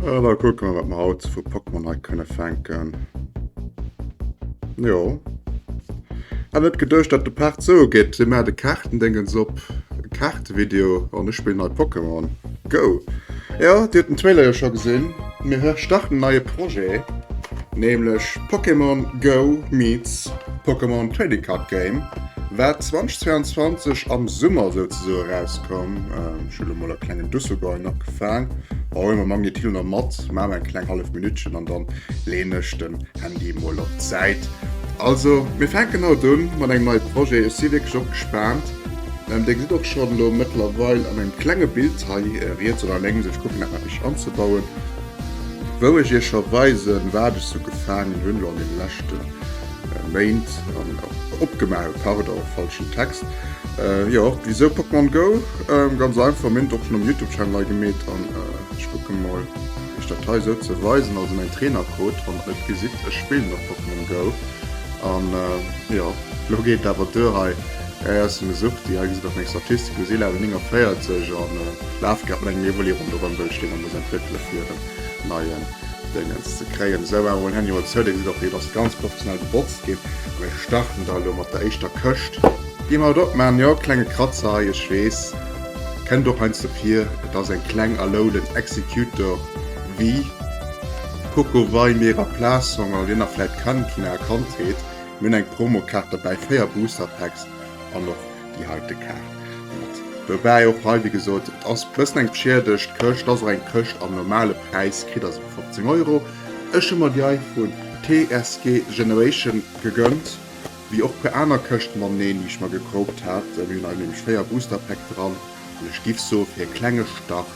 An da kucke mer wat mer haut sou vu Pokémon hei kënne fänken. Jo. Hat net geduecht, dat de Part sou gëtt. Si mer de Kaartendéngens op. Kaartevideo an ech spillen hei Pokémon Go. Jo, Dir hutt den Trailer jo scho gesinn. Mir starten en neie Projet, nämlech Pokémon Go meets Pokémon Trading Card Game. Wat 2022 am Summer souzesoe erauskoum, ech hu lo mol e klengen Dusselgäul nach gefaang, a huel mer Magnéit Hill nach mat, maache mer eng kleng hallef Minuttchen an dann leeën ech den Handy mol op d'Säit. Also mir fänken haut un mat engem neie Projet, ech si wierklech och gespaant. Dir gesitt och schonn lo mëttlerweil an engem klenge Bild hei riets oder lénks, ech kucken dat nach richteg anzebauen, wou ech iech scho weisen wat ech sou gefaangen hunn lo an deene leschten Méint an opgemaach, pardon, falschen Text, jo wisou Pokémon Go? Ganz einfach, mir hunn et och schonn um Youtube Channel hei gemeet an ech kucken mol iech dat hei esou ze weisen, also mäin Trainercode, wann der et gesitt, ech spillen och Pokémon Go an jo lo geet et awer duer hei, hei ass en Suchti, hei gesitt der meng Statistik, elo si Level 49 an laf grad mat engem Evoli ronderëm wëll ech deen nach muss entwéckele fir en neien. Déngens ze kréien. Esou awer un Handy mol zou, dee gesit och déi et ass ganz professionell gebotzt gin. A mir starten da elo mat der éischter Këscht. Gi mer et opmaachen, jo klenge Kratzer hei, ech wees, kennt och heiansdo vir, et ass eng kleng erlouden Executor Vue. Kucke wei mir a Plaass hong, an je nach vläit kennt vun aer Kandheet, mir hun eng Promokaart derbäi, 4 Booster Packs an och déi heite Kaart mat dobäi. Och hei wéi gesot, et ass bessen eng bschiedegt Këscht, et ass och eng Këscht am normale Präis kritt, also 15 Euro. Ech hu mer déi hei vu TSG Generation gegönnt, wéi och puer aner Këscht mateneen déi ech mer gekroopt hat. Mir hunn hei nämlech 4 Booster Pack dran an ech giff soe fir e klenge Start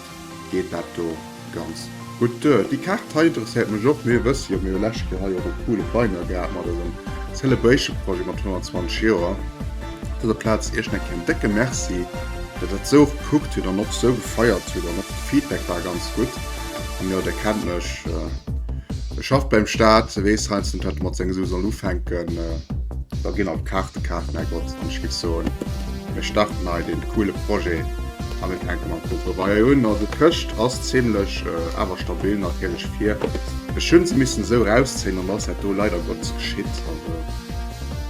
geet dat do ganz gutt duer. Déi Kaart hei interesséiert mech och, mee wësst jo, mir hu läscht Joer hei och e coole Binder gehat mat eisem Celebration Projet mat 120 Joer. Op dëser Plaz Iech nach een décke Merci, datt Der et esou och gekuckt hutt an och esou gefeiert hutt an och de Feedback war ganz gutt. An jo, Der kennt mech, e schafft beim Staat, e weess heiansdo net, wat e mat senge Sue soll ufänken. Da ginn alt d'Kaarte kaacht, Mergott, an ech géif soen, mir starten hei dee coole Projet a mir fänke mam Contrebaier un. Also d'Këscht ass zimmlech, awer stabil natierlech, fir. Ech hu se missen esou erauszéien an da ass dat do leider Gottes geschitt.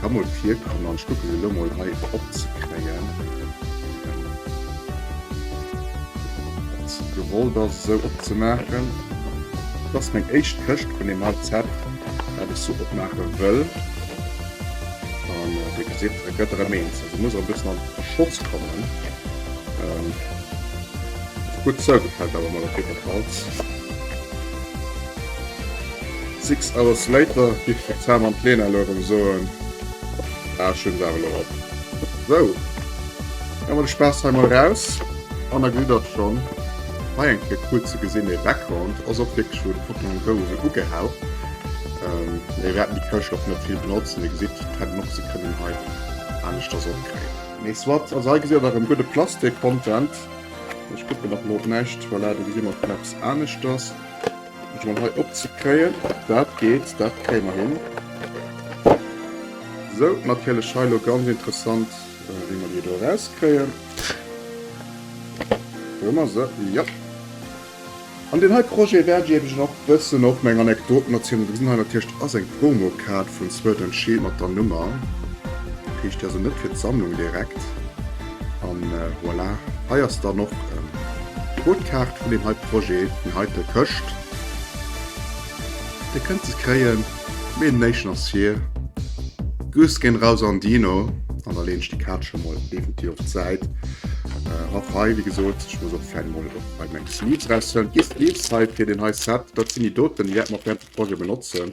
Kann mol virkommen an ech kucke se elo mol hei op ze kréien. Dat gewollt ass esou op ze maachen. Dat ass meng éischt Këscht vun deem High Zep wat ech sou opmaache wëll. An dir gesitt et gëtt erëm eens. Also muss erëm bëssen an Schotz kommen. Gutt sou, gefält awer mol op jiddwer Falls. Six hours later giff de Sam an d'Lena elo erem soen. Ah ech hun se awer elo op. Sou, hu mer de Spaass hei mol raus an da gesitt der schon hei eng Kéier cool ze gesin. Dee Background ass och wierklech wou de Pokémon Go esou ugehell. Mee mir wäerten déi Këscht och net vill benotzen. Dir gesitt d'Hännen och, se kënnen hei aneschters opkréien. Mee soit, also hei gesitt der erem gudde Plastik-Content. Ech kucken nach mol op näischt. Voilà, do gesi mer schon eppes aneschters. Ech mol hei op ze kréien. Dat geet, dat kréie mer hin. Sou, natierlech hei lo ganz interessant, wéi mer déi do erauskréien. Do hu mer se, jo. An deen hei Projet wäert ech iech och bëssen op meng Anekdoten erzielen. Dosinn hei natierlech, dat ass eng Promokaart vun Sword and Shield mat der Nummer. Kriicht dir also net fir d'Sammlung direkt. An voilà, hei ass dann och d'Codekaart vun deem heite Projet, déi heite Këscht. Dir kënnt se kréien, mee den éischten ass hier. Grüss ginn raus an Dino. An da leeën ech déi Kaart scho mol definitiv op d'Säit. Och hei, wéi gesot, ech muss och d'Fäll mol och bei meng Sleeves raushuelen. D'Sleeves hei fir deen hei Set, dat sinn déi doten, déi wäerte mer och während dem Projet benotzen.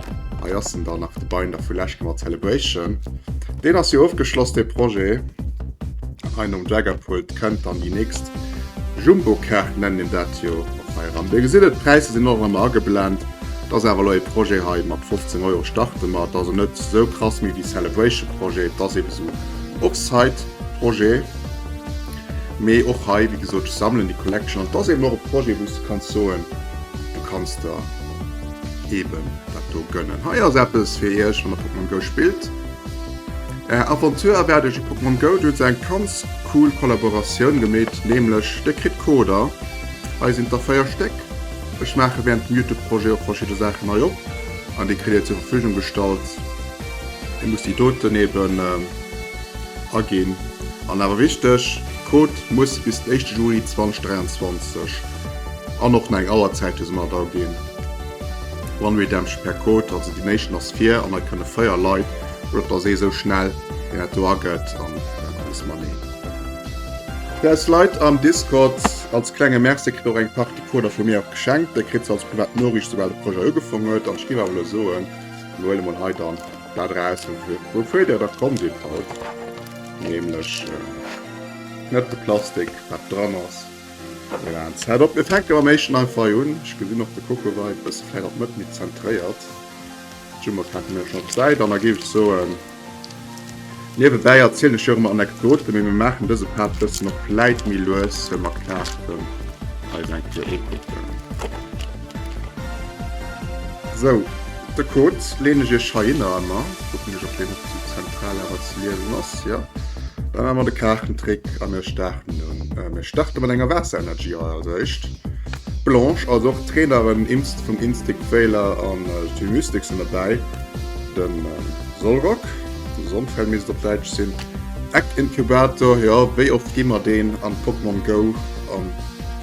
Hei ass en da nach de Binder vu Läschke mat Celebration. Deen ass jo ofgeschloss dee Projet. Hei nom Jaggerpult kënnt dann déi nächst Jumbokaart nennen een dat jo och hei eran. Dir gesitt et, d'Präisser sinn och ëmmer ageblent. Et ass awer elo ee Projet hei, mat 15 Euro starte mer. Et ass net esou krass méi wéi Celebration Projet. Et ass eebe sou Offsite Projet. Mee och hei, wéi gesot, ech sammelen déi Collection an et ass eeben och e Projet wou s de kanns soen, du kanns der, eben dat do gönnen. Hei ass eppes fir iech wann der Pokémon Go spillt. Är Aventure erwaart iech a Pokémon Go. Do huet se eng ganz cool Kollaboratioun gemeet, nämlech dir kritt Coder. Hei sinn der 4 Stéck. Ech maache während dem Youtube Projet och verschidde Saachen hei op an déi kritt dir zur Verfügung gestallt. Dir musst déi doten eben aginn an awer wichteg, Code muss bis den éischte Juli 2023. An och nei Auerzäite sinn mat aginn. One Redemption per Code, also déi néischten ass vir an hei kënne 4 Leit, oder et ass ee sou schnell deen dat do agëtt an alles manee. Fir eis Leit am Discord, als klenge Merci, kritt och eng Partie Coder vu mir och geschenkt, déi kritt se als privat Noriicht soubal de Projet ugefong huet. An ech géif awer elo soen, mir huele mol hei dann dat eraus woufir der da komm sidd haut, nämlech net de Plastik wat dran ass, Voilà, Set up. Mir fänken mam éischten einfach un. Ech gesinn och de Coco war e bësse vläicht op d'Mëtt méi zentréiert. D'Jummer packen mir schonn op d'Säit an da géif ech soen, niewebäi erzielen ech jo och ëmmer Anekdoten, mee mir maachen dëse Part bëssen och vläicht méi lues, well mer klaarten eis eng Kéier u kucken. Sou, de Code leen ech iech heihinner emmer. Kucken ech op deen och sou zentral awer ze liesen ass, jo. Da maan mer de Kaartentrick a mir starten un. Mir starte mat enger Waasser Energy Hei als eischt. Blanche als och Trainerin Imst vum Instic Weyler an Team Mystic sen derbäi. Den Solrock, den Sonfell misst et op Daitsch sin. Egg Incubator, jo wéi oft gi mer deen an Pokémon Go an.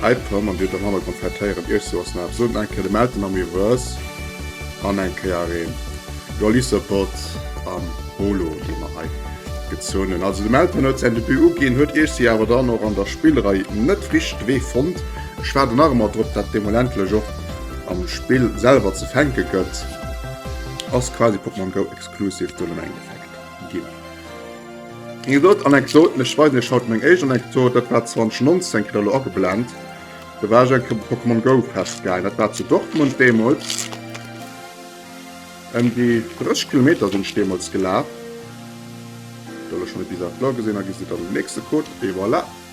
Hei Pam an Dir am Hannergrond vläit héieren, Iech soass nach soten eng Kéier de Meltem am Reverse an eng Kéier een Releaser Bot am Holo dee mer hei gezunn hunn. Also de Meltem huet säin Debut uginn, huet Iech si awer dann och an der Spillrei net richt wee fonnt. Ech waarden nach emmer drop dat deemol endlech och am Spill selwer ze fänke gëtt. Ass quasi Pokémon Go Exclusive, do nëmme eng Effekt. ginn. Eng drëtt Anekdot, ech weisen iech haut meng éischt Anekdot, dat war 2019, kritt der elo ageblent, do war ech eng Kéier op dem Pokémon Go festgehaangen, dat war zu Dortmund deemools, ëm déi 30 Kilometer sinn ech deemools gelaf, do elo schonn e bizarre Floor gesinn, a gesi dann den nächste Code, et voilà.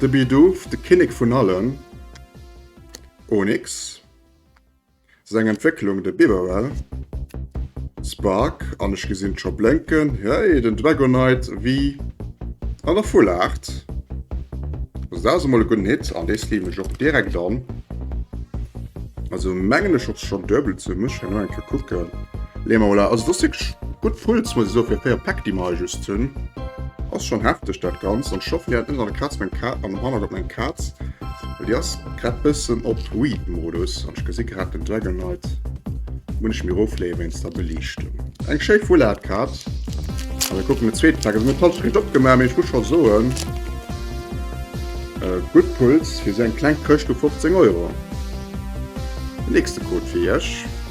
De Bidoof, de Kinnek vun allen Onyx, seng Entwécklung, de Bibarel, Spark an ech gesinn et scho blénken, hey, den Dragonite, wéi an der Full Art. Also dat ass emol e gudden Hit an dee sleeven ech och direkt an. Also mengen ech och scho duebel ze muschen, elo eng Kéier kucken. Les Maula, also das wirklich gudd Fulls muss ech soen fir 4 Päck déi mer hei just hun. Ass schon hefteg dat ganzt an scho fréier ënnert an der Kaz meng Kaz am Hannergrond meng Kaz well déi ass grad bëssen op Weed Modus an ech gesi grad den Dragon Knight mun ech mir ofleeë wéinst der Beliichtung. Eng schéi Full Art Kaz a mir kucken den zweete Päck. Also mir hunn d'Halschent net opgemaach mee ech muss scho soen gudd Pulls fir sou eng kleng Këscht u 15 Euro. Den nächste Code fir iech.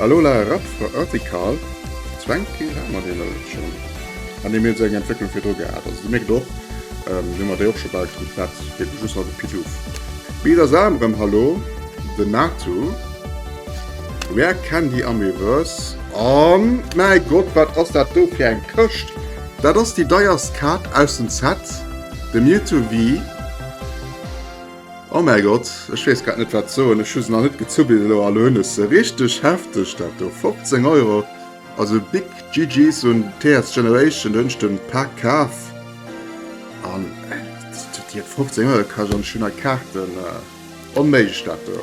A Lola Radikal zwängt kee Raum an deene Lëtschen. An deem huet se eng Entwécklung virdru gehat. Also se mierkt och, mir hu mat der jo och scho bal gedréckt, dat geet mech just nach de Pituff. Mee da saae mer erëm Hallo, den Nathoo, Rare Candy Amiiverse. Oh mäi Gott, wat ass dat do fir eng Këscht! Dat ass déi deierst Kaart aus dem Set, de Mewtwo Vii. Oh mäi Gott, ech wees grad net wat soen, ech hu se nach net gezuppelt elo a lo hunn ech se. Richteg hefteg dat do, 15 Euro, also big GG's un TS Generation, do hunn ech de Pak kaf an déi huet 15 Euro kascht an ech hunn hei Kaarten, onméiglech dat do,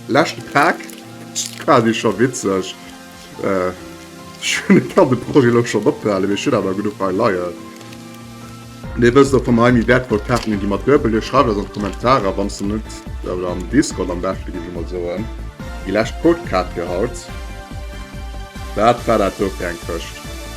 lescht Pak, dat war jo scho witzeg. Ech kann de Projet elo schonn ophalen, mee ech hunn awer genuch hei leien. Dir wësst och, wa mer hei méi wäertvoll Kaarten hunn, gi mer duebel. Schreift eis an d'Kommentarer, wann s de net, oder am Discord am beschten, géif ech emol soen, déi lescht Codekaart fir haut. Wat war dat do fir eng Këscht?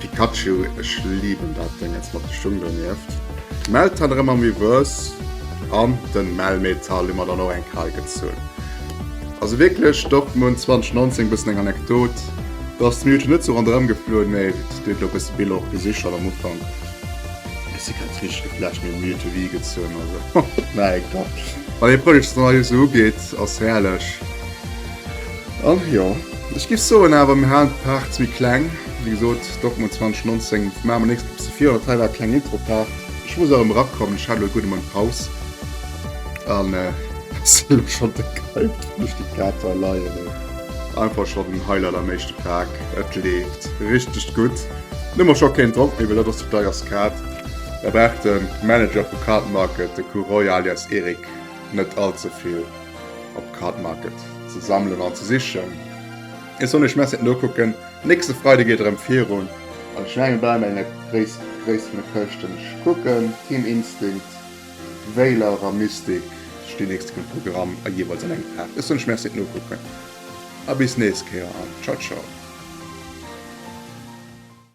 Pikachu, ech liiben dat Déngens mat de Schung donieft. D'Meltan rem am Miiwes an den Melmetal hu mer dann och eng Kal gezunn. Also wierklech Dortmund 2019 bëssen eng Anekdot, dass d'Minuten net sou ronderëm gefluewen, mee et huet elo bësse Biller och gesi schon am Ufank. Ech si grad richteg geflasht, mee Miu to Wii gezunn, also, mäi Gott, wann ee Project Szenario sou ugeet, ass herrlech. Ach jo, ech giff soen awer mir halen d'Part ze méi kleng. Wéi gesot, Dortmund 2019, maache mer nächst Episode virun. Dat hei war e klengen Intro-Part. Ech muss erëm erakommen, ech hat elo e gudde Mount Paus a sinn elo schonn déck hyped fir duerch déi Kater leien. Mee einfach schonn den Highlight am éischten Pak, et leeft richteg gutt. Hunn ëmmer scho keen Drock méi, well dat ass déi deierst Kaart. Da brauch de Manager vu Card Market, de Ku Roy alias Eric, net all ze vill. op Card Market ze sammelen an ze sichen. Ech soll mech Messet nokucken. Nächste Freide geet erëm virun. Also ech mengen bleiwen bei enger Gréisst Gréisst vun de Këschten. Ech kucken, Team Instinct, Veilach a Mystik stinn nächste Kéier um Programm a jeeweils an engem Pak. Ech soll mech Messet nokucken a bis nächst Kéier an Ciao Ciao.